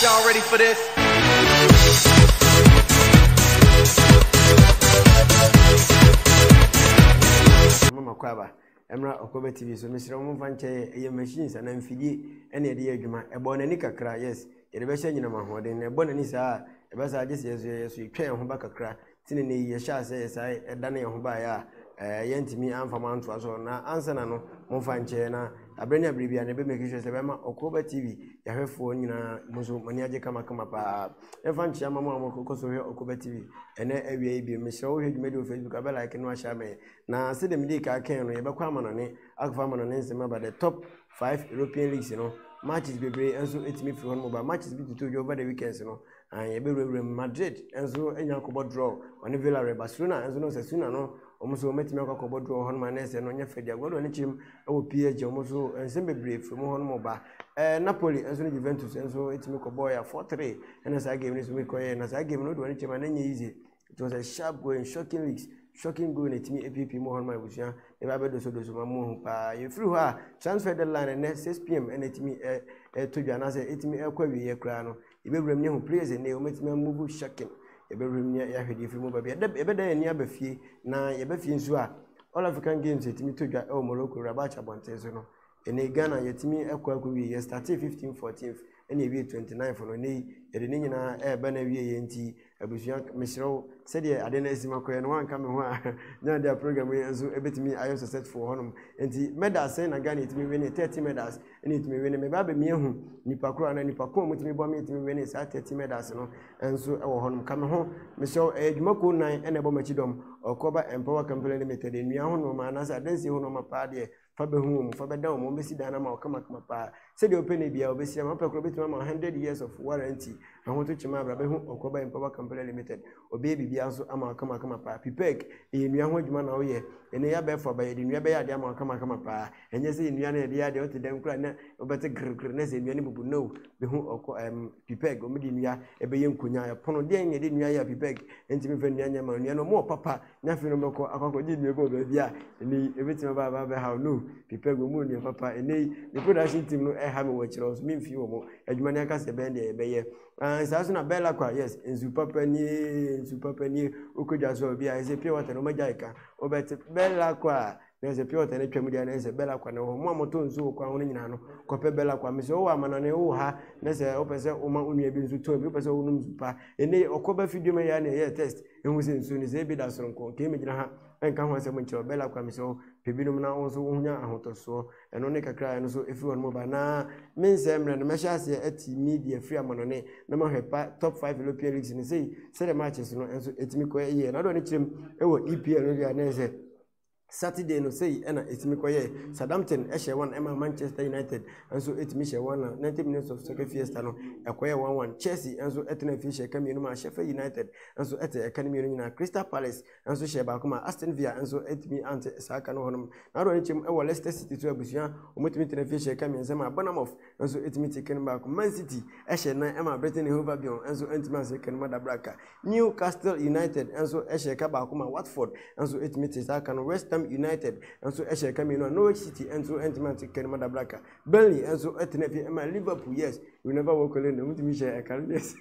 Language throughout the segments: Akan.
Y'all ready for this? Mama Kwaba, Emra Okobe TV, so Mr. Omunfa nkyɛn ɛyɛ machines anaa mfidie ɛna yɛde yɛ adwuma. Ɛbɔ n'ani kakra, yes. Yɛde bɛhyɛ nyinam ahoɔden na ɛbɔ n'ani saa a ɛbɛsa agye sɛ yɛso yɛso yɛtwa yɛn ho ba kakra tene ne yi yɛhyɛ asɛ yɛ saa ɛda ne yɛn ho baeɛ a ɛɛ eh, yɛntumi amfa mo antoa so na ansa na no momfa nkyɛɛ na abere ne abere bia na ɛbɛ make sure sɛ bɛma ɔkɔba tv yɛhwɛfoɔ nyinaa mo nso mo ani agye kamakama paa ɛmfa nkyea ma mo a mokɔ so hwɛ ɔkɔba tv ɛnɛ awia yi bio mesrɛ wohwɛ dwumadi wɔ facebook abɛ like no ahyɛ amɛ na sɛ dɛm de ka kɛn no yɛbɛkɔ amanɔne akɔfa amanɔne nsɛm aba the top 5 european leagues no matches bebree nso ɛtumi firi hɔ no mu ba matches bi tutu dwa over the weekends no Aane yɛbɛwurawura mu, Madrid nso anya akɔbɔ draw ɔne Villarreal, Barcelona nso no Osasuna no wɔn nso wɔatumi akɔ akɔbɔ draw hɔnom anaa sɛ no nyɛ fɛ deɛ Guardiola ne kyerɛm wɔ PSG wɔn nso nsɛm bebree firi mu hɔnom ba ɛɛ Napoli nso ne Juventus nso tumi kɔbɔɔ yɛ 4-3 ɛna saa game no nso kɔyɛ na saa game no wɔde wɔn kyerɛm a na nyɛ easy it was a sharp going shocking weeks shocking going ɛtumi apiepie mu hɔ no ma abusua ɛbɛ abɛdosodoso ma mu hu paa yɛfiri hɔ a transfer deadline ɛnɛ 6 pm ɛna ɛtumi ɛto dwa anaasɛ ɛtumi ɛkɔ awieɛ koraa no yɛbɛwura mu ne ho players ɛnɛ wɔmɛtumi amuvu shocking yɛbɛwura mu ne yɛahwɛ deɛ ɛfiri mu ba bi ɛbɛda yɛn ani aba fie na yɛbɛ fie nso a all african games ɛtumi to dwa ɛwɔ morocco rabat abɔnten so no Ɛnɛ Ghana yɛtumi kɔ akɔwie yɛ startee 15 14 ɛna ɛwie 29 no ɛnɛ yi yɛde ne nyinaa ɛreba no awie yɛ nti abusua mesrɛ wo sɛdeɛ ade no asi makɔɛ no wanka me ho a nyɛ deɛ program yi nso ɛbɛtumi ayɛ successful wɔ hɔnom nti medals sɛn na Ghana ɛtumi wene 30 medals ɛna ɛtumi wene mebaa bɛmi ahu nipa koro anaa nipa ko a mutumi bɔ me ɛtumi wene saa 30 medals no nso ɛwɔ hɔnom ka me ho mesrɛ wo ɛyɛ adwuma kuo nan ɛna ɛbɔ makyi dɔm ɔkɔba Empower Company Limited nnua ho nnoɔma anaasɛ adansie ho nnoɔma paa deɛ Fa bɛhu wɔn, fa bɛda wɔn, wɔbɛsi dan no ama wo kamakama paa. Sɛdeɛ wopɛ no biara wɔbɛsi ama, wopɛ koraa wobɛtumi ama 100 years of warranty. Ahotokyem abra, bɛhu Ɔkɔba in Power Company Limited. Wɔbɛyɛ biribiara nso ama wo kamakama paa. Pipec, ɛyɛ nnua ho adwuma na woyɛ. Ɛno yɛ abɛɛfo aba, yɛde nnua bɛyɛ adeɛ ama wo kamakama paa. Ɛnyɛ sɛ yɛ nnua no yɛde yɛ adeɛ, wote dɛm koraa na wobɛte grrgr na sɛ nnua no bubu, no. Bɛhu Ɔkɔ, ɛm, Pipec, wɔde nnua ɛbɛyɛ nkonwa, ɛpono, deɛn na yɛde nnua yɛ a Pipec ntumi mfa nnua nyɛ ma wo? Nnua no, wɔwɔ papa. na afei na ɔbɛkɔ akɔ akɔgye aduane kɔ baabi a ɛnɛ yi ebetumi aba aba abɛhaw no pipa gu mu nneɛma papa ɛnɛ yi ne production team no ɛha mi wɔ kyerɛ wɔn so mi nfi wɔn adwuma ne ankasa ɛbɛn deɛ yɛbɛyɛ ɛn saa so na bɛla kwa yes nsu papa nie nsu papa nie okɔ dwa so a obi a ɛsɛ pure water na ɔma gya ɛka ɔbɛte bɛla kwa. na ɛsɛ pure water no atwam deɛ na ɛsɛ bɛla kwa na ɛwɔ hɔ mo a motɔ nsuo wɔ kwan ho no nyinaa no kɔpɛ bɛla kwa mesɛ wowɔ amanɔne wowɔ ha na sɛ wopɛ sɛ woma onua bi nso tɔn bi wopɛ sɛ wonom nsu pa ɛne ɔkɔba fidua ma yɛa na ɛyɛ test ɛhu sɛ nsuo no sɛ ebi da soronko nka mɛgyina ha ɛnka ho asɛm nkyerɛ bɛla kwa mesɛ wo pɛ binom na wo nso wonya ahotɔsoɔ ɛno ne kakra ɛno so ɛfiri hɔ no mɔba na mensɛ mmerɛ no mɛhyɛ aseɛ ati media firi amanɔne na mahwɛ pa top 5 european leagues no sei sɛdeɛ matches no nso ɛtumi kɔ ɛyɛ na doɔ no kyerɛm ɛwɔ epl no deɛ na ɛsɛ Saturday no sei na ɛtumi kɔyɛɛ. Southampton hyɛ wɔn ɛma Manchester United nso ɛtumi hyɛ wɔn na 90 minutes of soccer fiesta no ɛkɔyɛ wɔn wɔn. Chelsea nso ɛtena afie hyɛ ɛka mmienu ma Sheffield United nso ɛte ɛka no mmienu nyinaa. Crystal Palace nso hyɛ baako ma Aston Villa nso ɛtumi ante saa ɛka no hɔnom. N'adoɔ no kyɛm ɛwɔ Leicester City so abusua wɔtumi tena afie hyɛ ɛka mmiɛnsa ma Bournemouth nso tumi te kɛnema baako. Man City hyɛɛ nan ma Britain ne Hove Albion nso antumi ansɛ kɛnema da berɛ a New Castle United nso hyɛɛ ka baako ma Watford nso tumi te saa ka no. West Ham United nso hyɛɛ ka mmienu a Norwich City nso antumi ante kɛnema da berɛ a Burnley nso tenaa fie ma Liverpool. Yes, you never walk alone, wɔtumi hyɛɛ ka no, yes.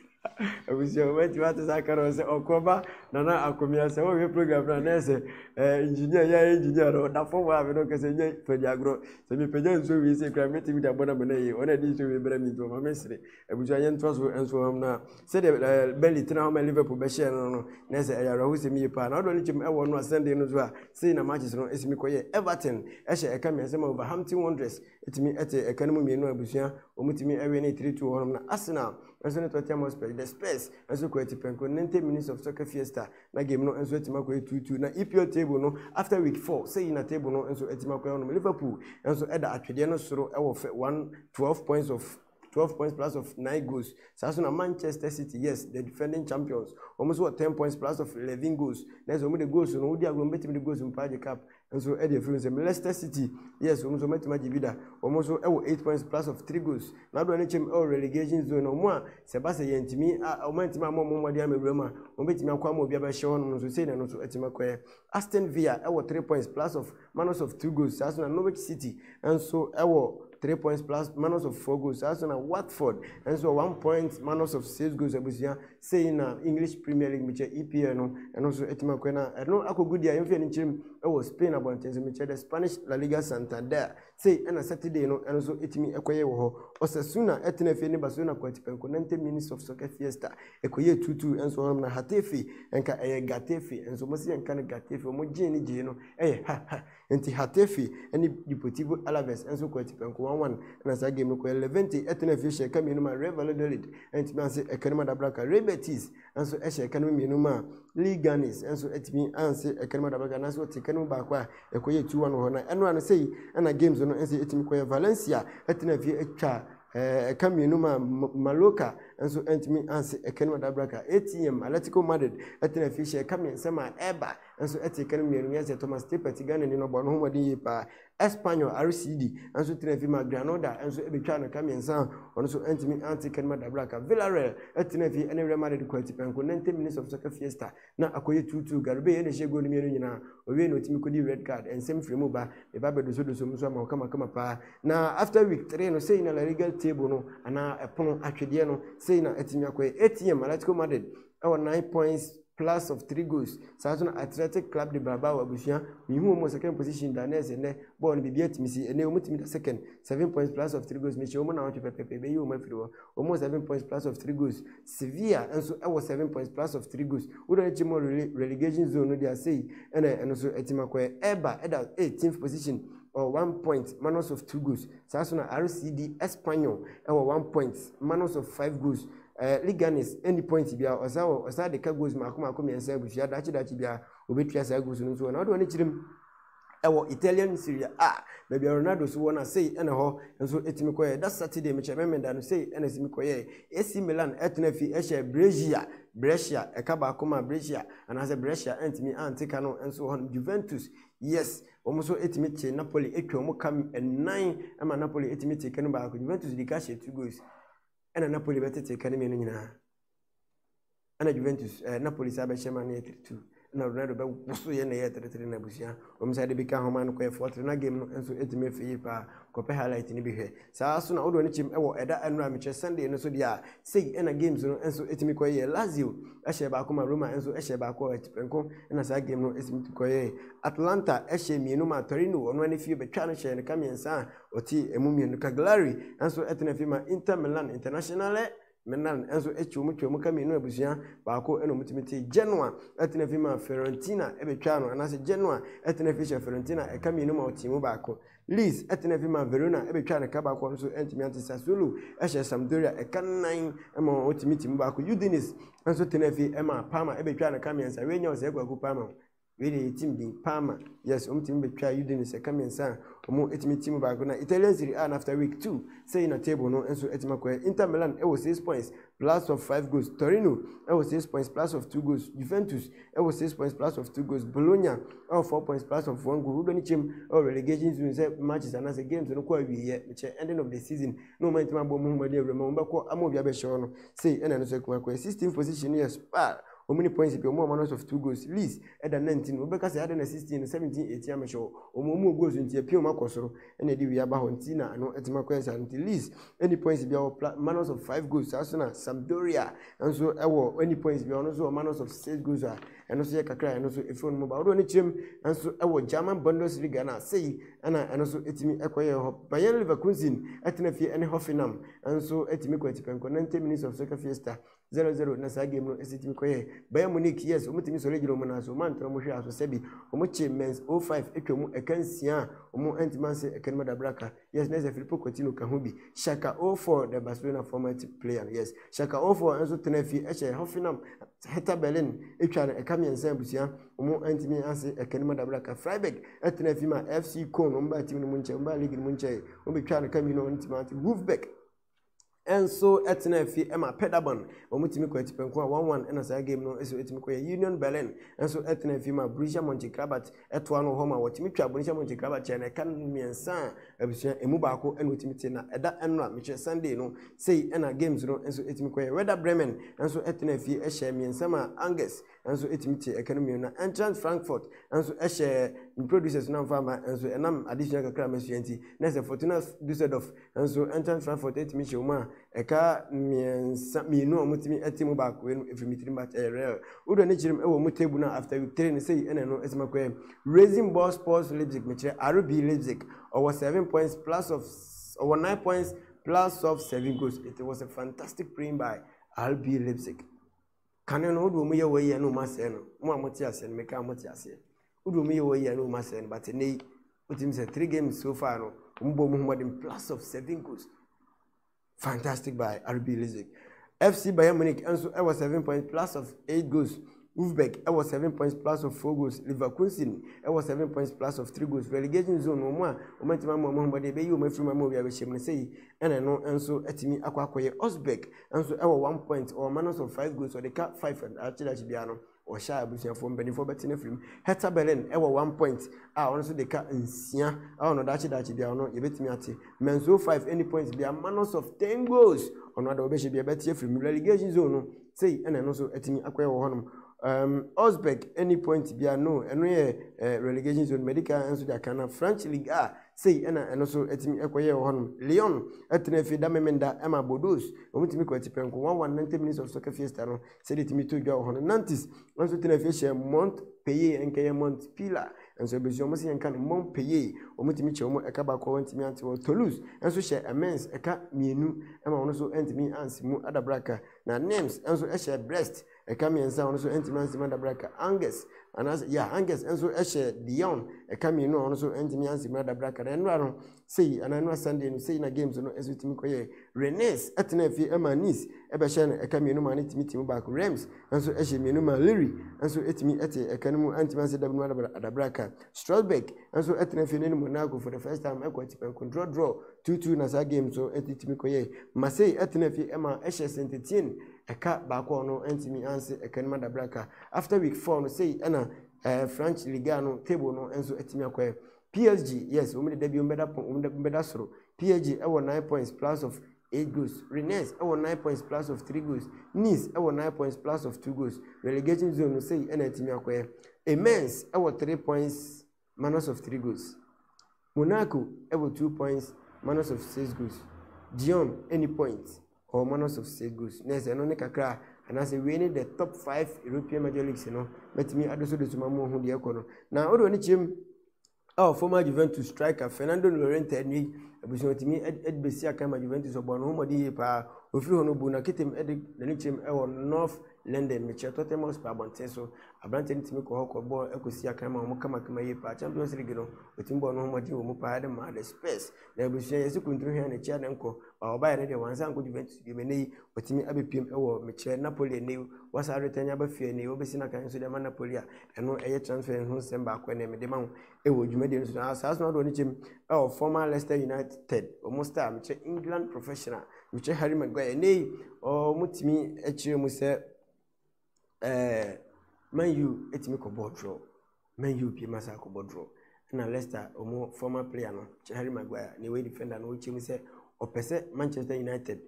Abusua wobɛtumi ate saa ka no sɛ ɔkɔ ba nana akomea sɛ wohwɛ program no a na ɛsɛ engineer yɛ engineer no ɔda fam a mene ɔkɛsɛ nyɛ fadi agorɔ sɛ mepagya nsuo wei sɛ kura mɛtumi de abɔ na mena yie ɔna ɛde nsuo wei brɛ me nti ɔma me sere abusua yɛ ntoa so nso hɔm no a sɛdeɛ bɛli tena hɔ ma liverpool bɛhyɛɛ no no na ɛsɛ ɛyɛ awerɛho sɛm yie paa na ɔdɔ no kyɛm ɛwɔ no a sunday no so a sei na matches no ɛsi me kɔyɛ everton ɛhyɛ ɛka me asɛm a overhampton wondress ɛtumi ɛte ɛka no mu mmienu abusua wɔmutumi ɛwɛ ne 3-2 hɔnom na arsenal nso ne Tottenham Hotspur, The Spurs nso kɔ atipɛnko no ne ntam Minutes of Soccer Fiesta na game no nso atim akɔ etuutu na EPL table no after week 4 sɛ yi na table no nso atim akɔ ɛwɔ nom Liverpool nso ɛda atwedeɛ no soro ɛwɔ fɛ 1 12 points of 12 points plus of 9 goals saa so na Manchester City yes the defending champions wɔn nso wɔ 10 points plus of 11 goals na ɛsɛ wɔn de goals no wodi agorɔ wɔn bɛtumi de goals mpo agye cup nso de afiri nsam. Leicester City, yes, wɔn nso wɔatumi agye bi da. Wɔn nso wɔ eight points plus of three goals. Na adɔ ne kyɛm wɔ relegation zone na wɔn a sɛ ba sɛ yɛntumi a wɔn antumi ama wɔn mmɔden ama wura mu a wɔbɛtumi akɔ ama obi abɛhyɛ hɔ nom nso sei na ɛno nso atumi akɔɛ. Aston Villa wɔ three points plus of minus of two goals saa so na Norwich City nso wɔ three points plus minus of four goals saa so na Watford nso wɔ one point minus of six goals abusua. Sei na English Premier League mekyɛ EPL no ɛno nso atumi akɔɛ na ɛno akɔgu deɛ yɛmfeɛ no nkyerɛm ɛwɔ Spain abɔnten so mekyɛ the Spanish La Liga Santander sei ɛna Saturday no ɛno nso ɛtumi ɛkɔyɛ wɔ hɔ Osasuna ɛtena afie ne Barcelona kɔ atipɛnko 90 minutes of soccer fiesta ɛkɔyɛ tutu ɛnso hɔnom na Hatefe ɛnka ɛyɛ Gatefe ɛnso mo se yɛnka no Gatefe ɔmo gyee ne gyee no ɛyɛ ha ha Enti Hatefe ne Deportivo Alaves nso kɔɔ atipɛnko 1-1 na saa game no kɔeɛ. Levante tenaa fie hyɛɛ ɛka mmienu maa Real Valladolid antumi anse ɛka no mu adabraka. Real Betis nso hyɛɛ ɛka no mu mmienu maa Leganes nso atumi anse ɛka no mu adabraka anaasɛ wɔte ɛka no mu baako a ɛkɔyɛɛ 2-1 wɔ hɔ na ɛno ano sei na games no nso atumi kɔeɛ. Valencia tenaa fie atwa eh, ɛka mmienu maa Mallorca nso antumi anse ɛka no mu adabraka. ATM Atletico Madrid tenaa fie hyɛɛ ɛka mmiɛnsa maa Eibar nso te kan mmienu yɛ sɛ Thomas Tippett, Ghanani no bɔɔ ne ho mmɔden yie paa. Espanyol RCD nso tena fi ma Granada nso betwaa no ka mmiɛnsa a ɔno nso antumi ante kan mu adabraka. Villarreal tena fi ne Real Madrid kwati pɛnko 90 minutes of soccer fiesta na akɔyɛ 2-2. Garubey na ɛhyɛ goal no mmienu nyinaa. Owiei na otumi kodi red card. Nsɛm firi mu ba. Me ba bɛdoso doso mu nso ama wo kama kama paa. Na after week 3 no sei na La Liga table no anaa ɛpono atwedeɛ no sei na atumi akɔyɛ. ATM Atletico Madrid ɛwɔ nine points plus of three goals saa nso na athletic club de brabaa wɔ abusua mehu wɔn wɔ second position da na ɛsɛ nnɛ bɔɔl no biribi atumi si ɛnɛ wɔn tumi da second seven points plus of three goals mehyɛ wɔn na wɔtwe pɛpɛpɛ bɛyi wɔn afiri hɔ wɔn wɔ seven points plus of three goals sevilla nso ɛwɔ seven points plus of three goals wodɔ akyi mu relegation zone no de ase yi ɛna ɛno nso ɛtumi akɔɛ ɛba ɛda eighteenth position or one point minus of two goals saa nso na rcd espanyol ɛwɔ one point minus of five goals Eh, Leganes, ɛnni point biara, ɔsa wɔ, ɔsa de ka goals mako mako mmiɛnsa abusua, dakye dakye biara, obetua saa goals no nso wɔ, na ɔde wɔn akyiri mu ɛwɔ Italian Serie A, baabi a Ronaldo so wɔ no a sei ɛna hɔ nso ɛtumi kɔyɛ, da Saturday mekyɛ memenda no sei ɛna ɛtumi kɔyɛ, AC Milan ɛtena fi ɛhyɛ Brescia, Brescia, ɛka baako ma Brescia, anaasɛ Brescia ɛntumi ante ka no nso wɔ hɔ, Juventus, yes, wɔn nso ɛtumi te Napoli, ɛtwa wɔn ka nnan ɛma Napoli ɛtumi te ka no baako, Juventus di ka hyɛ two goals. ɛna Napoli bɛtete ka no mmienu nyinaa ɛna Juventus ɛɛ Napoli saa bɛhyɛ ma no yɛ three two ɛna Ronaldo bɛwoso yɛ na ɛyɛ three three na abusua wɔn sɛ ade bi ka ho ma no kɔyɛ four three na game no nso etumi efi yie paa kɔpɛ highlight no bi hwɛ saa so na ɔdo ne kyɛm ɛwɔ ɛda ɛno a mekyerɛ Sunday no so deɛ a sei ɛna games no nso etumi kɔyɛ Lazio ɛhyɛ baako ma Roma nso ɛhyɛ baako a ɛtipɛnko ɛna saa game no etumi kɔyɛ Atlanta ɛhyɛ mmienu ma Torino ɔno ɛne fie bɛtwa no hyɛ ne ka mmiɛnsa a Ɔte emu mmienu ka Glary nso tena fi ma Inter Milan Internazionale Milan nso kyerɛmu twaa mu ka mmienu abusua baako na wɔtumi te Genoa tena fi ma Fiorentina bɛtwaa no anaasɛ Genoa tena fi hyɛ Fiorentina ɛka mmienu ma ɔte mu baako Leeds tena fi ma Verona bɛtwaa no ɛka baako nso ntumi ante Sassuolo hyɛ Sampdoria ɛka nnan ma ɔtumi te mu baako Udinese nso tena fi ma Parma bɛtwaa no ɛka mmiɛnsa wei nyɛ ɔsɛe kwaku Parma Wei deɛ yɛtim din paa ma yes wɔn tumi bɛtwa yudi no sɛ ka mmiɛnsa a wɔn etumi ti mu baako na Italian Serie A na after week two sɛ yina table no nso etimi akɔɛ Inter Milan ɛwɔ six points plus of five goals Torino ɛwɔ six points plus of two goals Juventus ɛwɔ six points plus of two goals Bologna ɛwɔ four points plus of one goal wodɔ ne kyɛm ɛwɔ relegation zone sɛ matches anaasɛ games no kɔ awieɛ mekyɛ ending of the season na wɔn etimi abɔ wɔn ho wɔn de awura mu wɔn bɛkɔ ama obi abɛhyɛ wɔn no sei ɛna ɛno nso etimi akɔɛ sixteen position yɛ spar Wɔn ne points pɛ, wɔn a wɔn announced of two goals, Leeds da 19 no, wobɛka sɛ adɛn na 16 no, 17, 18 amehyɛ hɔ? Wɔn a wɔwɔ goals nti apia wɔn akɔ soro na ɛde wei aba hɔ nti na ano atumi akɔ yɛ saa no nti Leeds nni points biara wɔ pla minus of 5 goals saa nso na Sampdoria nso wɔ nni points biara ɔno nso wɔ minus of 6 goals a ɛno nso yɛ kakra ɛno nso ɛfiri wɔn mu ba wɔde wɔn kyerɛm nso wɔ German Bundesliga na sei ɛna ɛno nso ɛtumi ɛkɔ yɛ hɔ Bayern Leverkusen ɛtena fie ɛne Hoffenheim nso ɛtumi kɔ atipɛnkɔ 90 minutes of soccer fiesta zero zero na saa game no ɛsɛ tumi kɔ yɛ Bayern Munich yes wɔn tumi sɔre gyina wɔn nan so wɔn antena wɔn hwɛ aso sɛbi wɔn kye Mainz 05 atwa mu ɛka nsia a wɔn antumi anse ɛka no mu adabraka yes na ɛsɛ Filippo Coutinho ka ho bi Shaka 04 the Barcelona former team player yes Shaka 04 nso tena fie ɛhyɛ Hoffenheim Hertha Berlin atwa no ɛka mmiɛnsa abusua wɔn antumi anse ɛka no mu adabraka Freiburg ɛtena fie ma FC Köln wɔn baa team no mu nkyɛn wɔn baa league no mu nkyɛn wɔn bɛtwa no ka mmienu wɔn ntumi ante Wolfsburg nso tenaa fie ma Paderborn ma wɔtumi kɔɔ atipɛnko a 1-1 na saa game no so tumi kɔyɛ. Union Berlin nso tenaa fie ma Borussia Monchengladbach toa no wɔ hɔ ma wɔtumi twaa Borussia Monchengladbach kyɛɛ na ɛka no mmiɛnsa a abusua emu baako na wɔtumi te na ɛda ɛno a mekyerɛ Sunday no sei na games no nso tumi kɔyɛ. Werder Bremen nso tenaa fie hyɛɛ mmiɛnsa maa Angers nso tumi te ɛka no mmienu na Eintracht Frankfurt nso hyɛɛ ne producers no amfa ama nso ɛnam adesua kakra a masua nti na sɛ Fortuna Dusseldorf nso Eintracht Frankfurt tumi hyɛ wɔn a ɛka mmiɛnsa mmienu a wɔtumi te mu baako no ɛfiri me tirim but ɛyɛ rare wode ani kyerɛ mu ɛwɔ mu table no after week three no sɛ ɛna ɛno ɛsɛ makɔɛ Racing Ball Sports Leipzig mekyerɛ RB Leipzig ɔwɔ seven points plus of ɔwɔ nine points plus of seven goals it was a fantastic playing by RB Leipzig Kane no, wode wɔn yɛ wɔn yɛ ne wɔn asɛe no. Mo a mote aseɛ no, meka mo te aseɛ. Wode wɔn yɛ wɔn yɛ ne wɔn asɛe no, but ɛnɛ yi, wotumi sɛ three games so far no, wɔn bɔ wɔn homɔden plus of seven goals. Fantastic by RB Leipzig. FC Bayern Munich nso ɛwɔ seven points plus of eight goals. Wolfsburg ɛwɔ seven points plus of four goals. Leverkusen ɛwɔ seven points plus of three goals. Relegation zone wɔn a wɔn ntoma mu wɔn homɔden bɛyi wɔn afiri mu ama obi abɛhyɛ mu no sɛ yi ɛna ɛno nso atumi akɔ akɔyɛ Osberg nso ɛwɔ one point ɔma no so five goals ɔde ka five akyerɛ akyi biara no ɔhyɛ a abusuafoɔ mpanimfoɔ bɛte no afiri mu hɛta berlin ɛwɔ one point a ɔno nso de ka nsia ɛwɔ no dakye dakye biara no yɛbɛtumi ate manso five any points biara manos of ten goals ɔno ada wɔbɛhyɛ biara bɛte afiri mu relegation zone no sei ɛna ɛno nso atumi akɔyɛ wɔ hɔnom um, Osberg any point biara no ɛno yɛ uh, relegation zone medical nso de aka na french league a Sei na ɛno nso tumi kɔyɛɛ wɔ hɔnom. Leon tenaa fie da Memenda ma Bordeaux. Wɔtumi kɔɔ atipɛnko wɔn wɔn Ninety Minutes of Soccer Fiesta no sɛdeɛ ɛtumi too dwa wɔ hɔ no. Nantes nso tenaa fie hyɛɛ Montpellier, ɛnka ɛyɛ Montpellier nso ɛbɛsua wɔn sɛ yɛnka no Montpellier. Wɔtumi kyɛ wɔn ɛka baako a wɔntumi ante wɔ Toulouse nso hyɛɛ Amiens ɛka mmienu ma wɔn nso antumi ansi mu adabraka. Na Nimes nso hyɛɛ Brest. ɛka mmiɛnsa a ɔno nso ntumi ansi mu adabrɛ ka angus anaasɛ yɛ angus nso hyɛ dion ɛka mmienu a ɔno nso ntumi ansi mu adabrɛ ka na ɛnora no sei anaa ɛnora sunday no sei na games no nso tumi kɔyɛ renes ɛtena afie ɛma nis ɛbɛhyɛ no ɛka mmienu ma ne tumi tumi baako rems nso ɛhyɛ mmienu ma liri nso ɛtumi ɛte ɛka no mu antumi ansi dabi mu adabrɛ ka strasbourg nso ɛtena afie no ne monaco for the first time ɛkɔ atipɛn kondrɔ drɔ tutu na saa games no ɛtumi kɔyɛ marseille ɛtena afie ɛma ɛhyɛ sentetien Ɛka baako a ɔno antumi anse ɛka no mu adabra ka. After week four no sei ɛna ɛɛ eh, French Liga no table no nso atumi akɔɛ. PSG yes wɔn de da bi wɔn bɛda pɔn wɔn de wɔn bɛda soro. PSG ɛwɔ nine points plus of eight goals. Rennes ɛwɔ nine points plus of three goals. Nice ɛwɔ nine points plus of two goals. Relegation zone no sei ɛna atumi akɔɛ. Amiens ɛwɔ three points. Manos of Three Goals. Monaco wɔ two points Manos of Six Goals. Diom nni point, ɔwɔ Manos of Six Goals. Na ɛsɛ ɛno ne kakra a, anaasɛ wei ne the top five European major leagues no bɛtumi adosodoso ma mo ho deɛ ɛkɔ no. Na wode w'ani kyerɛ mu a former Juventus striker Fernando Llorente ɛnɛ yi abusua otumi de bɛsi akan ma Juventus ɔbɔ no ho mmɔden yie paa ofiri hɔ no bu na ketem de n'ani kyerɛm wɔ North London mekyerɛ Tottenham Hotspur abɔnten so Aberantsɛ no tumi kɔ hɔ kɔ bɔɔl kɔ si akan ma wɔkamakama yie paa. Champions League no, otumi bɔɔ noho mbɔdzen wɔ mu paa dze maa The Spurs. Na ebusua, yɛse Kuntun hɛn ne Ciane nkɔ, baa ɔbae no deɛ, ɔannsan annkɔ Juventus bio. Ma ndɛ yi, otumi abepiem wɔ, mekyerɛ, Napoli ndɛ yi. Wɔasa adotan yi aba fie ndɛ yi, wobesi n'akan so dze ama Napoli a, ɛno yɛ transfers ho nsɛm baako na mede ma wo wɔ dwumadie no so. Na Asaase no adɔ ne kyɛm wɔ former Leicester United, wɔn star, mekyerɛ, England professional, mekyerɛ, Harry Maguire. Ndɛ yi, wɔtumi kyerɛɛ mu sɛ. Man U tumi kɔbɔɔ draw Man U pie ma saa kɔbɔ draw ɛna Leicester wɔn former player no Harry Maguire ne wɔyɛ defender no wɔkyerɛ mu sɛ ɔpɛ sɛ Manchester United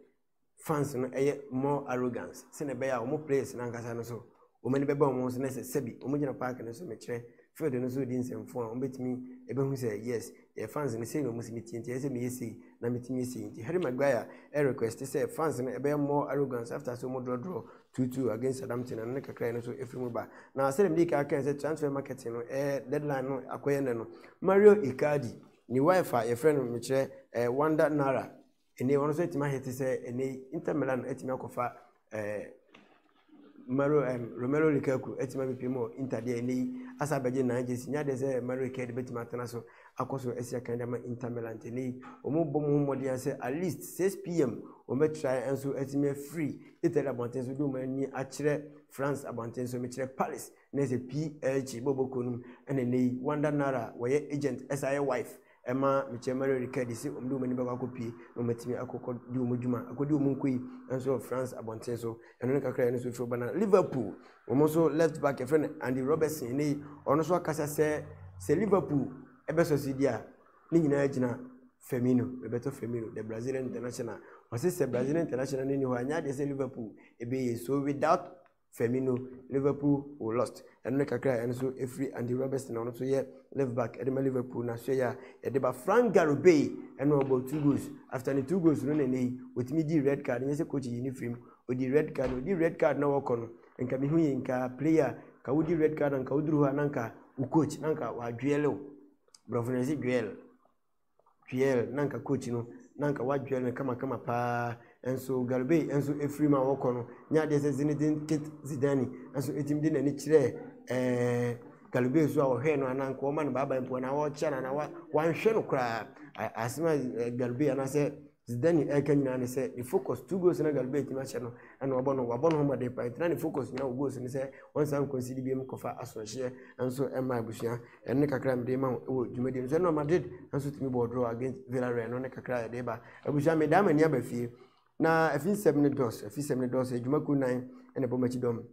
fans no ɛyɛ more arrogance sɛnɛ ɛbɛyɛ a wɔn players no ankasa no so wɔn ani bɛba wɔn ho so na sɛ sɛbi wɔn gyina park no so mekyerɛ field no so di nsɛmfo a wɔn bɛtumi ɛbɛhu sɛ yes yɛ fans no sei na ɔmo si metie nti ɛyɛ sɛ meyɛ sei na metumi yɛ sei nti Harry Maguire ɛ request sɛ fans no ɛbɛyɛ more arrogance after sɛ ɔmo draw draw 2-2 against Southampton ano no kakra no so ɛfiri mu ba na sɛdeɛ mede kaa kan sɛ transfer market no ɛ deadline no akɔyɛ nɛ no Mario Icardi ne wife a yɛfrɛ no mekyerɛ ɛ Wanda Nara Ɛnɛ yi, ɔno nso atumi ahete sɛ ɛnɛ yi Inter Milan atumi akɔfa ɛɛ eh, Mario ɛm eh, Romelu Lukaku atumi abepie mu Inter deɛ ɛnɛ yi asa abɛgye nan gyesi nya deɛ sɛ Mario Icardi bɛtumi atena so akɔ so asi akan de ama Inter Milan ɛnɛ yi wɔn bɔ mu ho mmɔden sɛ at least 6 pm wɔn bɛtra nso atumi afiri Italy abɔnten so de wɔn ani akyerɛ France abɔnten so mekyerɛ Paris na ɛsɛ PSG bɔbɔ kuro no mu ɛna ɛnɛ yi Wanda Nara wɔyɛ agent ɛsa yɛ wife Ɛma mekyerɛ Mario Riccardi sɛ wɔde wɔn ani bɛkɔ akɔpue na wɔatumi akɔkɔdi wɔn adwuma, akɔdi wɔn nkoyi nso wɔ France abɔnten so. Ɛno ne kakra a ɛno nso firi ba na Liverpool, wɔn nso left back yɛfrɛ no Andy Robertson, ɛnɛ yi ɔno nso akasa sɛ sɛ Liverpool ɛbɛsɔ so di a ne nyinaa gyina Firmino, Roberto Firmino, the Brazilian international. Ɔse sɛ Brazilian international no ni hɔ a, nyɛ adeɛ sɛ Liverpool ɛbɛyie. So without Firmino, Liverpool wɔ lost ɛno ne kakra a ɛno nso ɛfiri Andy Robertson a ɔno nso yɛ left back ɛde ma Liverpool na soɛ yɛ a ɛde ba Frank Garubey ɛna ɔbɔ two goals after ne two goals no na ɛnɛ yi wɔtumi di red card nyɛ sɛ coach yi ne firim ɔdi red card ɔdi red card na wɔkɔ no nka mehu yɛ nka player ka wodi red card nka woduru hɔ a na nka wo coach na nka wadwɛle wo borɔfo no ɛse dwɛle Dwyer na anka coach no na anka wadwyer no kamakama paa nso Garibay nso firi mu a wɔkɔ no nyɛ adeɛ sɛ Zinedine Kit Zidane nso ɛtumi de n'ani kyerɛɛ ɛɛ Garibay so a wɔhwɛɛ no anaa nka wɔma no baaba mpo anaa wɔkyea no anaa wanhwɛ no koraa asɛm a Garibay anaasɛ Dze dɛ nye ɛreka nyina ne sɛ ne focus two goals na Galbey etumi ahyɛ no na ɔabɔ no, ɔabɔ noho mbɔden paa ntsi na ne focus nyina wɔ goals ne sɛ ɔnsan nconcede biom nkɔfa asoɛrhyɛ nso mma ebusua. Ɛno ne kakra a mede rema wo wɔ dwumadie no so. Ɛna Madrid nso tumi bɔɔ draw against Villarreal, ɛno ne kakra a yɛde reba. Abusua medaa m'ani aba fie na afinsɛm no dɔɔso, afinsɛm no dɔɔso, adwuma kuo nan na ɛbɔ m'akyi dɔm.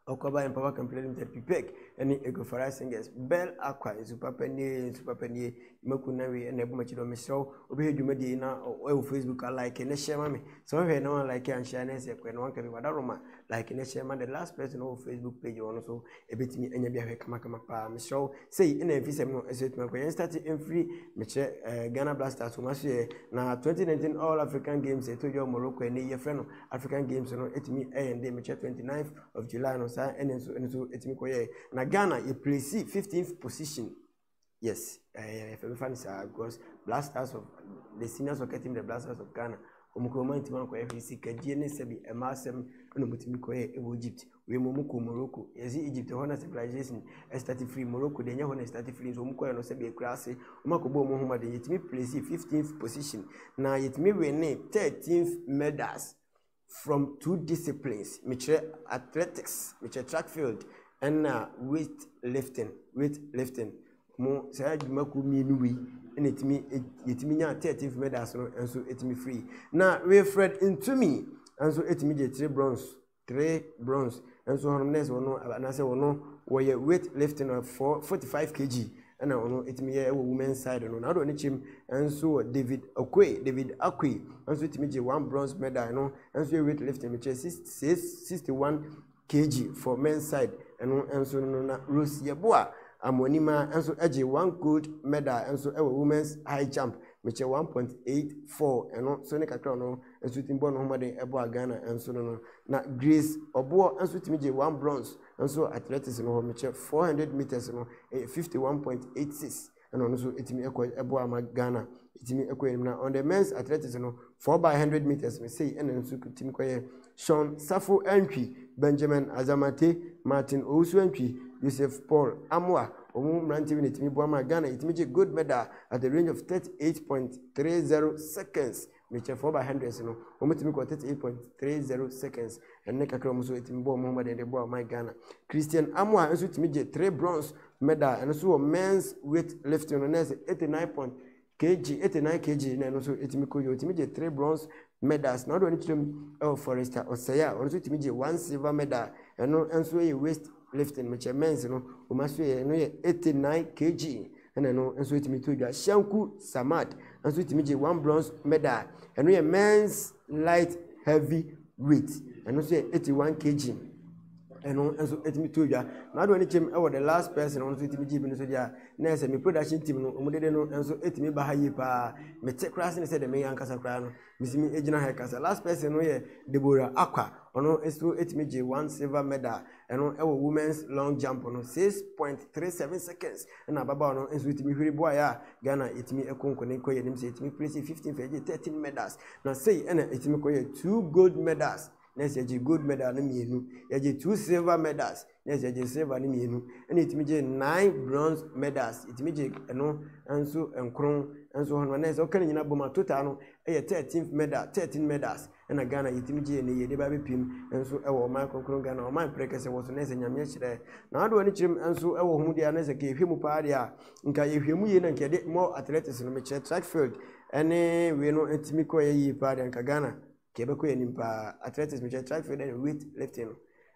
Ɔkwaba Empower Company Limited, PPEC, ne Ego Farai Singers, Bell Aqua, nsu papa nie, nsu papa nie, Maku Nawi, ɛna ɛbɔ m'akyi dɔ, mesrɛ wo, wobɛhwɛ dwumadie yi na ɛwɔ Facebook a like ne hyɛ ma me, sɛ wohwɛ na wɔn like anhyɛ a na ɛsɛ ɛkɔɛ na wɔn kɛbi wada roma, like ne hyɛ ma the last person wɔ Facebook page wɔn so, ɛbɛtumi anya bi ahwɛ kamakama paa, mesrɛ wo, sei ɛna ɛmfi sɛm no ɛsɛ ɛtumi akɔ, yɛn start mfiri, mekyerɛ eh, Ghana Blasters, wɔn aso yɛ, na 2019 All African Games ɛtɔ dwa wɔ Morocco ɛnɛ yi, yɛfrɛ no African games no ɛtumi ɛyɛ nde mekyɛ 29th of July no saa ɛne nso ɛne nso ɛtumi kɔ yɛ na Ghana yɛ plesi 15th position yes ɛɛ fɛmi fa ne saa because Black Stars of the senior soccer team the Black Stars of Ghana wɔn kura wɔn ntoma nkɔ ɛfɛ si kagyie ne sɛbi ɛmaa sɛm ɛna wɔn tumi kɔ yɛ ɛwɔ Egypt Wei mu ɔmo kɔ Morocco yɛdze Egypt hɔ na civilization start firi Morocco deɛ nyɛ hɔ na start firi nso ɔmo kɔɛ no sɛdeɛ akurase ɔmo akɔ bɔ ɔmo ho mmɔden yɛtumi placed fifteenth position na yɛtumi winne thirteenth medals from two disciplines mekyerɛ athletics mekyerɛ track field ɛna weight lifting weight lifting ɔmo saa adwumakuo mmienu wei ɛna ɛtumi yɛtumi nya thirteenth medals no nso ɛtumi firi na Wilfred Ntumi nso ɛtumi gye three bronze. three bronze nso hɔnom nurse wɔ no anaasɛ wɔ no wɔyɛ weight lifting na four forty five kg ɛna wɔ no etumi yɛ ɛwɔ women side no na ɔdɔ ne kyɛm nso wɔ david okoe david akoe nso etumi gye one bronze medal no nso yɛ weight lifting mi kyerɛ six six sixty one kg for men side ɛno nso no na rose yɛboa amonima nso gye one gold medal nso ɛwɔ women's high jump mi kyerɛ one point eight four ɛno nso ne kakra ɔno. Nsutene bɔ no ho mmɔden boa Ghana nso no no. Na Grace Oboɔ nso tumi gye one bronze nso wɔ athletics no hɔ. Mekyɛ four hundred metres no ɛyɛ fifty one point eight six ɛna ɔno nso tumi ɛkɔ ɛboa ma Ghana ɛtumi ɛkɔ anim. Na on the men's athletics no four by hundred metres no sei ɛna nso tumi kɔyɛ Sean Safo Antwi, Benjamin Azamate, Martin Owusu Antwi, Joseph Paul Amoa wɔn mmeranteɛ bi na ɛtumi boa ma Ghana ɛtumi gye gold medal at the range of thirty eight point three zero seconds. Mekyɛfoɔ ɔba hundreds no, wɔn tumi kɔ 38.30 seconds ɛne kakra wɔn nso ɛtumi bɔ wɔn ho mmɔden de boa ɔman Ghana. Christian Amoah nso tumi gye three bronze medal ɛno nso wɔ men's weight lifting no na ɛsɛ 89 point kg 89 kg na ɛno nso ɛtumi kɔ yie ɔtumi gye three bronze medals na ɔde ɔne kyerɛ mu ɛwɔ Forester Ɔsɛe a ɔno nso tumi gye one silver medal ɛno nso yɛ waist Lifting measurements no wɔn asoɛeɛ ɛno yɛ 89 kg ɛna ɛno nso etumi to dwa shanku samad nso etumi gye one bronze medal ɛno yɛ men's light heavy weight ɛno nso yɛ 81 kg ɛno nso etumi to dwa n'adoɔ ne kyɛm ɛwɔ the last person wɔn nso etumi gye bi no so deɛ na ɛsɛ me production team no wɔn dede no nso etumi ba ha yie paa mete koraa sɛ ne sɛ deɛ meyɛ ankasa koraa no Metumi gyina ha ka sɛ last person no yɛ Deborah Acquah. Ɔno nso tumi gye one silver medal ɛno wɔ women's long jump no six point three seven seconds. Ɛna ababaawa no nso tumi hwiri boaeɛ a Ghana yɛtumi kɔ nkɔni kɔ yɛn anim sɛ yɛtumi place fifteen fɛ gye thirteen medals na sei ɛna yɛtumi kɔ yɛ two gold medals na yɛgye gold medal no mmienu yɛgye two silver medals. na ɛsɛ gye silver no mmienu ɛna ɛtumi gye nine bronze medals ɛtumi gye ɛno nso nkron nso hɔ no na ɛsɛ ɔka ne nyina bɔma total no ɛyɛ thirteen medal thirteen medals ɛna ghana yɛtumi gye ne yɛde ba bɛpim nso ɛwɔ ɔman kronkron ghana ɔman prɛ kɛsɛ wɔ so na ɛsɛ nyameɛ hyerɛ na adoɔ ne kyerɛm nso ɛwɔ ho deɛ na ɛsɛ ka yɛhwɛ mu paa deɛ a nka yɛhwɛ mu yie na nka yɛde mɔ athletics no mekyerɛ track field ɛne wei no ɛtumi kɔ yɛ yie paa deɛ nka ghana kɛbɛkɔ yɛ nim paa athletics mekyerɛ track field ɛne weight lifting no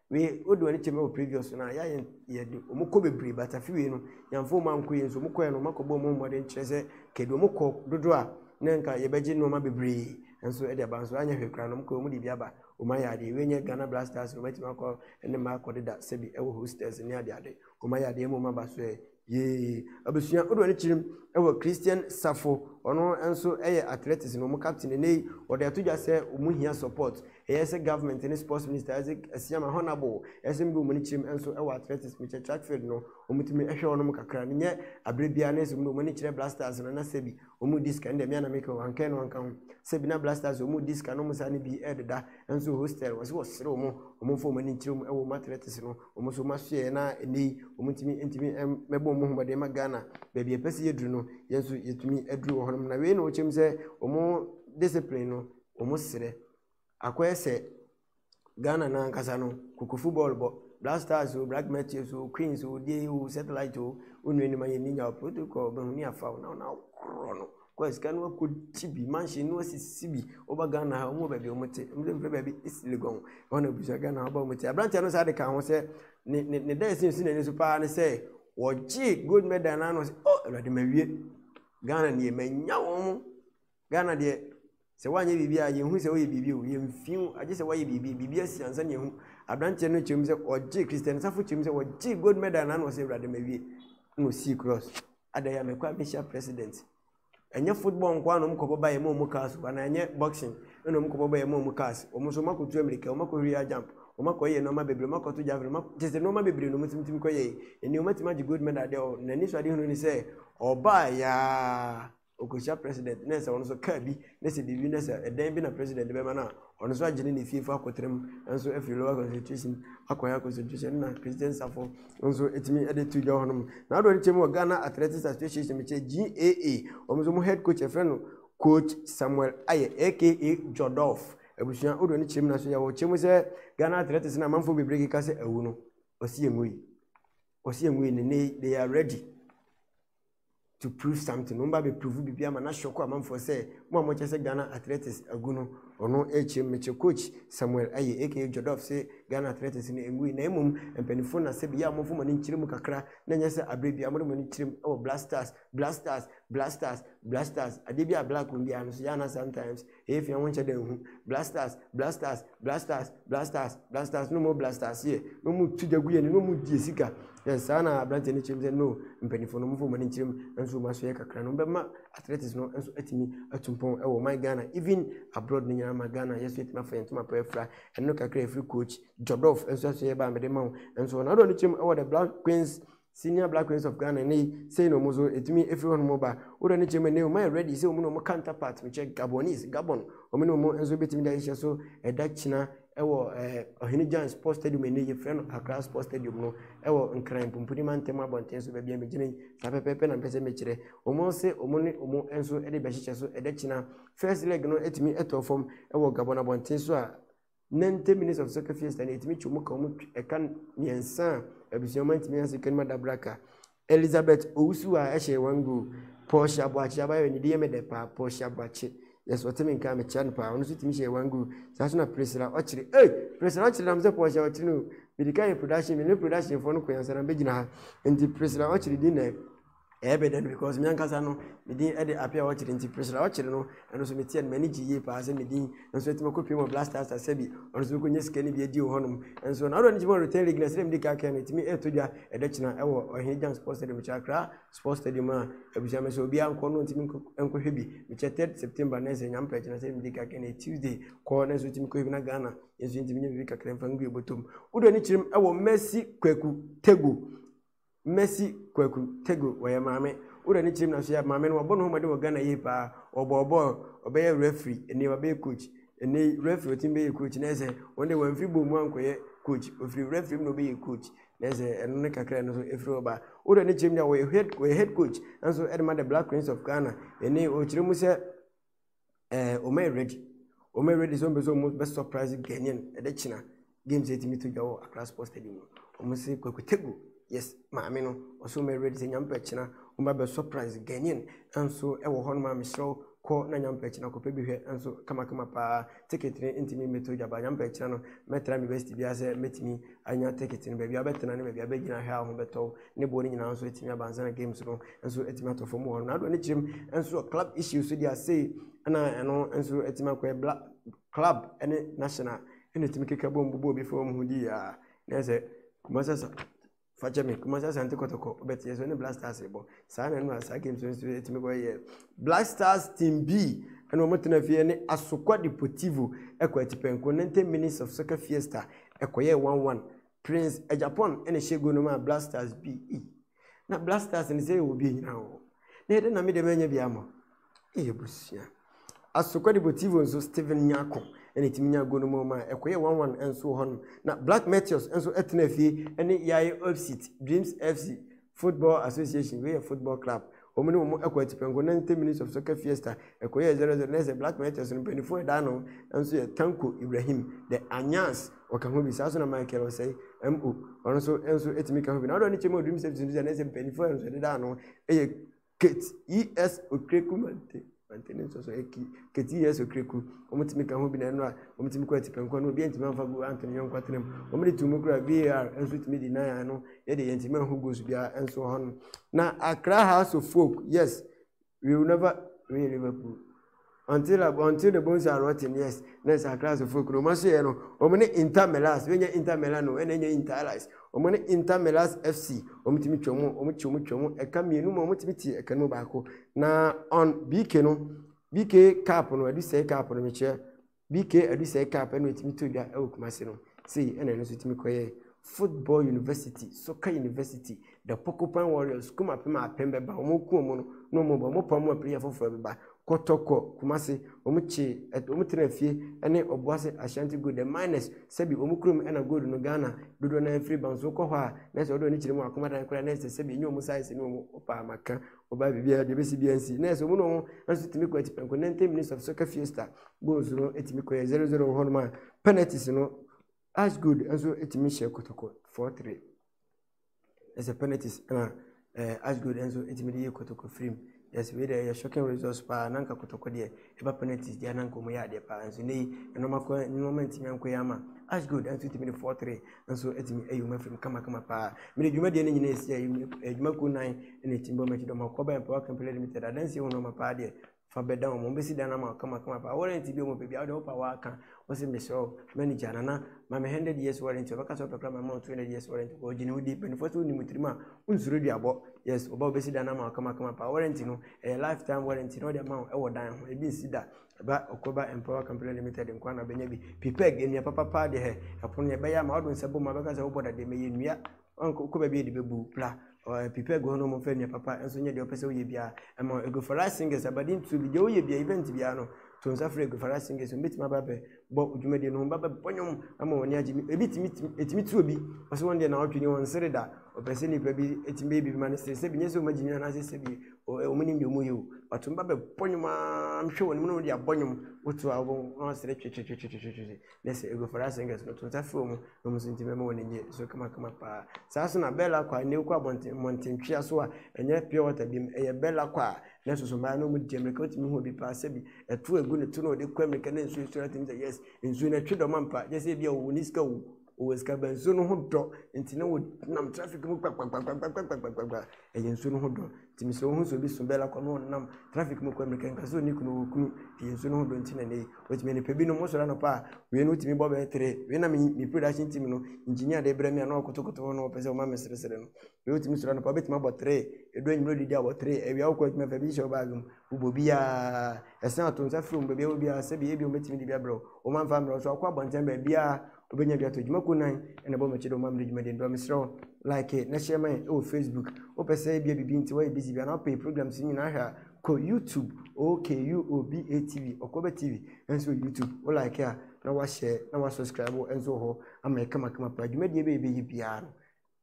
Wei wode w'ani kyɛ me wɔ previous no a yɛ yɛn yɛde wɔn kɔ bebree but afi wei no yɛnfo wɔn ankɔ yie nso wɔn kɔɛ no wɔn akɔbɔ wɔn mmɔden kyerɛ sɛ kɛde wɔn kɔ dodo a na nka yɛbɛgye nneɛma bebree nso ɛde aba nso anyɛ hwɛ koraa no wɔn kɔ wɔn de bi aba wɔn ayɛ adeɛ wei nyɛ Ghana Blasters wɔn atumi akɔ ne mma akɔ deda sɛbi ɛwɔ hostels ne ade ade wɔn ayɛ adeɛ ɛma wɔn aba so ɛ Yee. Abusua dodoɔ no kyerem wɔ Christian Safo, ɔno nso yɛ athletics no wɔn captain ɛnɛ yi, ɔde ato dwa sɛ wɔn hia support, ɛyɛ sɛ government ne sports minister Isaac Asiamah Honourable, ɛyɛ sɛ wɔn ani kyerem nso wɔ athletics, mekyɛ track field no wɔn tumi hwɛ wɔn kakra, no nyɛ aberɛ biara na ɛsɛ wɔn de wɔn ani kyerɛ blasters no, na sɛbi wɔn redi sika, ɛnna mea na meka o, anka ɛno anka ho, sɛbi na blasters wɔn redi sika na wɔn saa no bi rededa nso hostel, wɔse wɔsere wɔn, wɔn mfa wɔn ani nkyerɛ mu wɔ wɔn athletics no. Wɔn nso wɔn ahyehyɛeɛ na ɛnɛ yi wɔn ntumi ntumi mɛbɔ wɔn ho mmɔden ma Ghana baabi a ɛpɛ sɛ yɛduru no yɛn nso yɛtumi aduru wɔ hɔnom na wei na wɔkyɛm sɛ wɔn discipline no wɔn serɛ akɔyɛ sɛ Ghana no ankasa no kokofu bɔɔl bɔ Black Stars o Black Matches o Queens o die o Satellite o wɔn nua nim ayɛ ninya o protocol bɛho ni afa o na wɔn akorɔ no. Kɔɛ sika no akɔ kyi bi manhyɛ no asisi bi ɔba ghana ha ɔmo baabi ɔmo te ɔmo mfrɛ baabi esilegon ɔmo na busa ghana ɔba ɔmo te aberanteɛ no saa de ka ho sɛ ne ne ne dan esi nsu n'ani so paa ne sɛ wɔgye gold medal n'ano sɛ ɔ awurade ma wie ghana deɛ ma nya wɔn ghana deɛ Sɛ woanyɛ biribi a, yɛnhu sɛ woyɛ biribi o, yɛmfi wo, agye sɛ woayɛ biribi, biribi asi ansa na yɛhu. Aberanteɛ no kyerɛm sɛ ɔgye, Kristianisafo kyerɛm sɛ wɔgye gold medal na na ɔsɛ Awurade mawie, na ɔsii cross. Ada yɛ a mɛkɔ a mɛhyia president. Ɛnyɛ football nko ara na wɔn kɔbɔ ba yɛ ma wɔn cars o, anaa ɛnyɛ boxing na wɔn kɔbɔ ba yɛ ma wɔn cars. Wɔn nso wɔn akɔtu amirika, wɔn akɔhuri high jump, wɔn akɔyɛ nneɛma bebree, wɔn akɔto javelin, wɔn akɔ, kyerɛ sɛ nneɛma bebree na wɔn tumi tumi kɔyɛ. Ɛnni wɔn atumi agye gold medal deɛ o, na n'anisoadehunu ne sɛ ɔbaa yɛ ara Okohyia president na sɛ ɔno nso car bi na sɛ biribi na sɛ ɛdan bi na president de bɛma no a, ɔno nso agye ne ne fiefo akɔtra mu nso afiri lower concentration akɔ higher concentration na president safo nso ɛtumi de to dwa hɔ nom. Na adoɔ no kyɛ mu wɔ Ghana Athletics Association mekyɛ GAA, wɔn nso mu head coach ɛfrɛ no coach Samuel Ayɛ aka Jodolf. Abusua wodoɔ no kyɛ mu na so yɛwɔ kyɛ mu sɛ Ghana Athletics na amanfoɔ bebree keka sɛ awu no, ɔsi yɛn wui, ɔsi yɛn wui ne ne they are ready. to prove something wɔn ba bɛ prove biribi ama na shock amanfoɔ sɛ mo a mokyɛ sɛ Ghana athletics agu no ɔno ɛkyerɛ mu mekyɛ coach Samuel Aye aka Jodorf sɛ Ghana athletics no ɛngui na mmom mpanimfoɔ na sɛ biyɛ a mofo mo ani nkyerɛ mu kakra na nyɛ sɛ aberɛ bia mode mo ani kyerɛ mu ɛwɔ black stars black stars black stars black stars adeɛ bi a black wɔm biara no so yɛ ana sometimes Eyi fia wonkyɛ dɛ nnhu. Blasters, blasters, blasters, blasters, blasters, na wɔn blasters yɛ, na wɔn tu gya gu yɛn anim, na wɔn die sika. Yɛ saa na aberanteɛ no kyerɛ mu sɛ, no, mpanyinfoɔ no, wɔn fɔ wɔn ani nkyerɛ mu, nso wɔn asoyɛ kakra no, wɔbɛma athletics no nso atumi atu mpɔn wɔ ɔman Ghana, even abroad no nyinaa ma Ghana yɛso yɛtumi afa yɛn ntoma pa afira. Ɛno kakra efiri coach Jodorf nso asoyɛ ba a mede ma wo. Nso wɔn adoɔ no kyerɛ mu wɔ the Black Queens Senior Black Queens of Ghana ne sei na wɔn nso ɛtumi ɛfiri hɔ nom ba wodɔ ne kyɛ mu ɛnɛ wɔn ayɛ ready sɛ wɔn na wɔn counterpart mekyɛ Gabonese Gabon wɔn ne wɔn nso bɛtumi de ahyehyɛ so ɛda kyina ɛwɔ ɛɛ Ɔhene Jan Sports Stadium ɛnɛ yɛfrɛ no Accra Sports Stadium no ɛwɔ Nkran Pumpuni Mantam abɔnten so baabi a megyina yi saa pɛpɛɛpɛ na mpɛ sɛ mekyerɛ wɔn se wɔn ne wɔn nso de bɛhyehyɛ so ɛda kyina first leg no ɛtumi ɛtɔ fam ɛwɔ Gabon abɔnten so a 90 minutes of soccer fiesta na ɛtumi kyɛ mu ka wɔn ɛka mmiɛnsa a abusua ma ntumi ase kɛnima dabraka elizabeth owusu a ɛhyɛ wɔn go pɔɔhye aboakye abayɛ ne di yɛ me dɛ paa pɔɔhye aboakye yɛsɛ ɔte me nka mekyia no paa ɔno nso tumi hyɛ wɔn go saa so na presera ɔkyere ee eh, presera ɔkyere nam sɛ pɔɔhye ɔkyere no bidika yɛ production mi ne production foɔ no kɔyansa na bɛgyina ha nti presera ɔkyere di nɛ Ɛyɛ me dɛ no because me ankasa no me din de Appiah Ɔkyere nti Priscilla Ɔkyere no ɛno nso meteɛ no m'ani gye yie paa sɛ me din nso atumi akɔ pie wɔ Blastasta sɛbi ɔno nso bɛkɔnya sika no bi adi wɔ hɔnom nso na ɔdɔ no gyima Rotary League na sɛdeɛ mede ka kɛn no ɛtumi ɛtɔ dwa ɛda kyina ɛwɔ Ɔhene Gyan Sports Stadium mekyɛ Accra Sports Stadium a abusua me sɛ obiara nkɔ no ntumi nkɔhwɛ bi mekyɛ 3 September na ɛsɛ nyame pɛ kyina sɛdeɛ mede ka kɛn no Tuesday kɔ na nso tumi kɔhwɛ bi na Ghana nso ntumi nyɛ biribi kakra mfa ngu yɛ bɔtɔm wodɔ ne kyerɛm ɛwɔ Mercy Kwaku Tegu Mercy Kwaku Tego ɔyɛ maame. Wura ne kyerɛm na so yɛ maame no wabɔ ne ho mmɔden wɔ Ghana yie paa. Ɔbɔɔ bɔɔl, ɔbɛyɛɛ referee, ɛnɛ yi wabɛyɛ coach. Ɛnɛ yi referee ɔtumi bɛyɛ coach na ɛsɛ wɔn deɛ wɔamfiri bɔɔl mu ankɔyɛ coach. Ɔfiri referee mu na ɔbɛyɛ coach na ɛsɛ ɛno ne kakra ɛno nso ɛfiri hɔ ba. Wura ne kyerɛm deɛ ɔyɛ head, ɔyɛ head coach nso ɛde ma the Black Cranes of Ghana. Ɛnɛ yi ɔkyerɛ mu sɛ ɛɛ wɔn ayɛ ready wɔn ayɛ ready sɛ wɔn bɛ sɛ wɔn bɛ surprise ghanaian ɛdɛ kyina games ɛtumi to dwa wɔ akra sports stadium mu wɔn sɛ kwakutegu yes maame no ɔsɛ wɔn ayɛ ready sɛ nyampɛ kyina wɔn bɛ bɛ surprise ghanaian nso ɛwɔ hɔ nom a mesrɛw kɔ na nyampɛ kyina kɔpɛ bi hwɛ nso kamakama paa ticket no ntumi mmɛto dwa ba nyampɛ kyina no mɛtra me best biara sɛ mɛtumi anya ticket no baabi a bɛtena ne baabi a bɛgyina hwɛ a ho bɛtɔw ne boɔ no nyinaa nso atumi aba ansa na games no nso atumi atɔ fam hɔ ronaldo ne kyerɛm nso club issues deɛ asei ɛna ɛno nso atumi akɔ ɛbla club ne national ɛna atumi keka bɔ mbobɔ obi fam ho di a na ɛsɛ kumasasa fakyɛ me kumasa asante kɔtɔkɔ ɔbɛteɛ so ne black stars bɔ saa na ɛno a saa games nso atumi kɔ yɛ black stars team b ɛna wɔn tena fie ne asokwa deportivo ɛkɔ atipɛnko ninety minutes of soccer fiesta ɛkɔyɛ one one Prince Agyapong na ɛhyɛ gol no maa Blasters bi. Ei, na Blasters no sɛ yɛwɔ bi anyina wɔ. Na ɛdɛ na me dɛm anya bi ama. Ei abusua. Asokwa Deportivo nso Steven Nyarko na ɛtumi nyaa gol no ma ɔmaa ɛkɔyɛ 1-1 nso wɔ hɔnom. Na Black Meteors nso tena fie ne Yaye Ofsit, Dreams FC, Football Association, wei yɛ football club, wɔn ne wɔn kɔ atipɛnko, 90 minutes of soccer fiesta, ɛkɔyɛɛ 0-0, na ɛsɛ Black Martyrs no mpanyinfoɔ a ɛdaa no nso yɛ Tanko Ibrahim, The Anyans, ɔka ho bi, saa nso na Michael Osei, MO, ɔno nso nso tumi ka ho bi. Na ɔdɔ ne kyɛ mu a Dream Safety nso sɛ na ɛsɛ mpanyinfoɔ a nso ɛdedaa ano yɛ Kate E. S. Okreku Mante Mante ne nsɔsɔ yɛ kii Kate E. S. Okreku Wɔn tumi ka ho bi na ɛno a wɔn tumi kɔ atipɛnkɔ no obi ntumi anfa gu anto ne yɔnko atena mu wɔn de tu mu kura VAR nso tumi di nan ano yɛ de yɛn tumi anho goals biara nso hɔ no na Accra House of Folk yes we will never win Liverpool Until ab Until the bones are rotten, yes, na ɛsɛ Akrasofo kunu. Wɔn asoɛeɛ no, wɔn ne Inter Melas, wɛnyɛ Inter Milan o, ɛna ɛnyɛ Inter Allies. Wɔn ne Inter Melas FC, wɔn tumi twam, wɔn kye wɔn twam ɛka mmienu mu, wɔn tumi te ɛka no mu baako. Na on BK no, BK cup no, ɛdu sɛe cup no, mekyerɛ, BK Adusai Cup ɛna ɛtumi to dwa ɛwɔ Kumasi no sei ɛna ɛno nso ɛtumi kɔyɛ football university soccer university the Porcupine Warriors kum apem apem bɛba wɔn ku wɔn no na wɔn ba wɔn pa wɔn apem afoforɔ bɛba kɔtɔkɔ Kumasi wɔn kye ɛt wɔn tena fie ɛne Obuasi Ashanti Gold the miners sɛbi wɔn kurom ɛna gold no Ghana dodoɔ naa firi ba nso kɔ hɔ a na ɛsɛ ɔdɔ ne kyerɛ mu akoma dan koraa na ɛsɛ sɛbi enye wɔn size ne wɔn ɔpa amaka ɔbaa biribiara deɛ ɔbɛsi biara nsi nɛɛse ɔmo na ɔmo nso tumi kɔ ati pɛnko ninety minutes of soccer fiesta goals no tumi kɔ yɛ zero zero wɔ hɔnom a penalties no as good nso tumi hyɛ kɔtɔkɔ four three ɛsɛ penalties ɛna ɛɛ as good nso tumi de yɛ kɔtɔkɔ firim yɛsɛ wei deɛ ɛyɛ shocking results paa nanka kɔtɔkɔ deɛ. Ɛba penalties deɛ na nka wɔn yɛ adeɛ paa nso nɛyi nneɛma kɔ nneɛma ntumi ankɔ yɛ ama Ash Gold nso tumi de four three nso tumi ayi wɔn afiri mu kamakama paa mede dwuma deɛ ne nyinaa esi ayi adwuma kuo nan na etimi bɔ mɛkyi dɔm akɔ bɛn power company limited adansi wɔn nneɛma paa deɛ fa bɛda wɔn wɔn bɛsi dan ama kamakama paa wɔrɛnti bi wɔn pɛ bi a wɔde wɔpa wɔaka Ɔse mesrɛ wo manager nana ma me hundred years warranty ɔbɛka sɛ ɔpɛ kora ma ma two hundred years warranty kɔ ɔgye ne ho di mpanifoɔ sɛ wonni mu tirim a wonsuro duabɔ yes ɔba wobɛsi dan no ama wakama kama paa warranty no ɛyɛ lifetime warranty na ɔde ama wo ɛwɔ dan ho ebi nsi da ɛba ɔkɔba empower company limited nkoa na bɛnya bi pipɛg nnua papapaa deɛ hɛ ɛpono yɛbɛyɛ ama wode nsa bɔ mu a bɛka sɛ wobɔ dadeɛ mɛyɛ nnua Ɔnkɔ kɔ baabi a yɛde bɛbu bra. Ɔɛ prepare gu hɔ na wɔn mfa nnua papa nso nyɛ deɛ ɔpɛ sɛ ɔyɛ biara. Ɛma Eguifara singers abadi ntuo bi deɛ ɔyɛ biara event biara no to nsa frɛ Eguifara singers wɔn bɛtumi aba bɛ bɔ dwumadie no wɔn ba bɛ bɔ nnwom ama wɔn ani agye ebi tumi tumi etumi tu obi ɔsɛ wɔn deɛ na ɔtwe ne wɔn sere da ɔpɛ sɛ nipa bi etumi bɛyɛ bibi ma ne sere sɛ bi nyɛ sɛ wɔn agye nyina anaasɛ sɛ bi wɔn nim deɛ wɔn yɛ o ɔtumi ba bɛ bɔ nnwom aa mhwɛ wɔn mu na wɔn de abɔ nnwom wotu a wɔn sere twetwetwetwetwetwe. Listen, you go for that singers no to nsa frɛ wɔn na wɔn nso nti mɛma wɔn ani so kamakama paa saa so na bɛɛla kɔ a na ekɔ abɔnten mmɔntentwea so a ɛnyɛ pure water bi mu ɛyɛ bɛɛla kɔ a na ɛsoso mmaa na wɔn di mmirika wotumi hu obi paa sɛbi ɛto egu ne to na ɔde kɔ mmirika na nsuo nsuo na tumi sɛ yes nsuo na ɛtwe dɔm ampa gyɛ sɛ ebi a wɔn ni sika wɔ wɔn sika bɛn nsuo no ho dɔ nti na wɔnam traffic mu kpakpakpakpakpakpakpakpakpa Ɛyɛ nsuo no ho dɔ nti mesrɛ wohu sɛ obi so bɛla kɔ na ɔnam traffic mu kɔ mmirika nka sɛ ɔni kunu wɔ kunu ɛyɛ nsuo no ho dɔ nti na ɛnɛ yi wɔtumi anipɛ binom wosɔre anɔpa a wei no wotumi bɔ bɛyɛ tere wei na me production team no engineer de brɛ me a na ɔkotokoto hɔ na ɔpɛ sɛ ɔma me seresere no wei wotumi sɔre anɔpa wobɛtumi abɔ tere ɛdu anwummerɛ didi abɔ tere awia wokɔ adwuma fa bi hyɛ wo baage mu wobɔ biaa ɛsɛn ato nsa frɛ mu baabi a wɔ biaa sɛbi ebi wɔbɛtumi de bi abrɛ wo wɔmamfa mmerɛ wo so akɔ abɔnten baabiaa Wobɛnya bi ato dwuma ko nan na bɔ m'akyi dɛ woma mede dwumadie no brɛ wo. Mesrɛ wo like na hyɛ ma yɛn wɔ Facebook. Wopɛ sɛ ebia biribi nti woayɛ busy bi anaa wopɛ yɛ programs no nyinaa hwɛ a, kɔ YouTube, OKUOBA TV, Ɔkɔba TV, nso wɔ YouTube. Wo like a na woahyɛ na woasubscribe nso wɔ hɔ ama yɛ kamakama paa. Dwumadie bɛyɛ bɛyɛ biara no,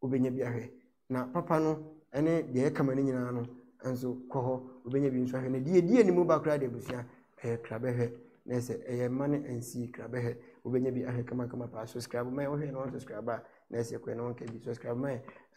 wobɛnya bi ahwɛ na papa no ne deɛ ɛka ma no nyinaa no nso kɔ hɔ wobɛnya bi nso ahwɛ na deɛ ɛdi anim ba koraa de abusua ɛyɛ krabɛhwɛ na ɛsɛ ɛyɛ mma no nsi krabɛhwɛ wobɛnya bi ahwɛ kamakama paa subscribe ma wohwɛ na wɔnsubscribe a na ɛsɛ kɔɛ na wɔnka bi subscribe ma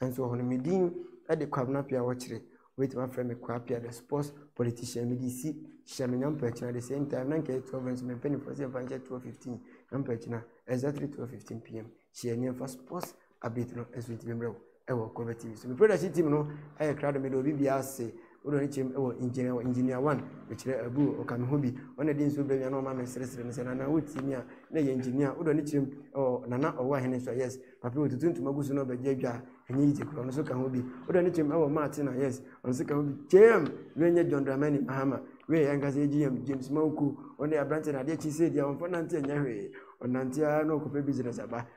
nso wɔ hɔ no medin de kwabena pia wɔkyerɛ wobɛtumi afrɛ me kwa pia the sports politician mede si hyɛ me nyampa akyina the same time na nkɛyɛ 12 nso mempanifoɔ sɛ mfa nkyɛ 1215 nyampa akyina exactly 1215 pm hyɛ nneɛmfa sports update no ɛso ntumi mmerɛ ɛwɔ convert tv so me production team no ɛyɛ krado mede obi bi ase wode ne kyerɛm ɛwɔ engineer wɔ engineer one mekyerɛ abu ɔka me ho bi ɔna de nsuo brɛ me ana ɔma me seresere me sɛ nana wotie mi a na ɛyɛ engineer wode ne kyerɛm ɛwɔ nana ɔwɔ ahene so yes papi wɔtutu ntoma gu so na ɔbɛgye adwa a ɛnyɛ yigye korɔ ɔno so ka ho bi wode ne kyerɛm ɛwɔ maate na yes ɔno so ka ho bi kyɛm wɛnyɛ john dramani mahama wei ɛnkasa yɛ gm james mawuku ɔne aberante na adeɛ kyi sɛ deɛ ɔmfa nante ɛnyɛ hwee ɔnante ara na ɔkɔpɛ business aba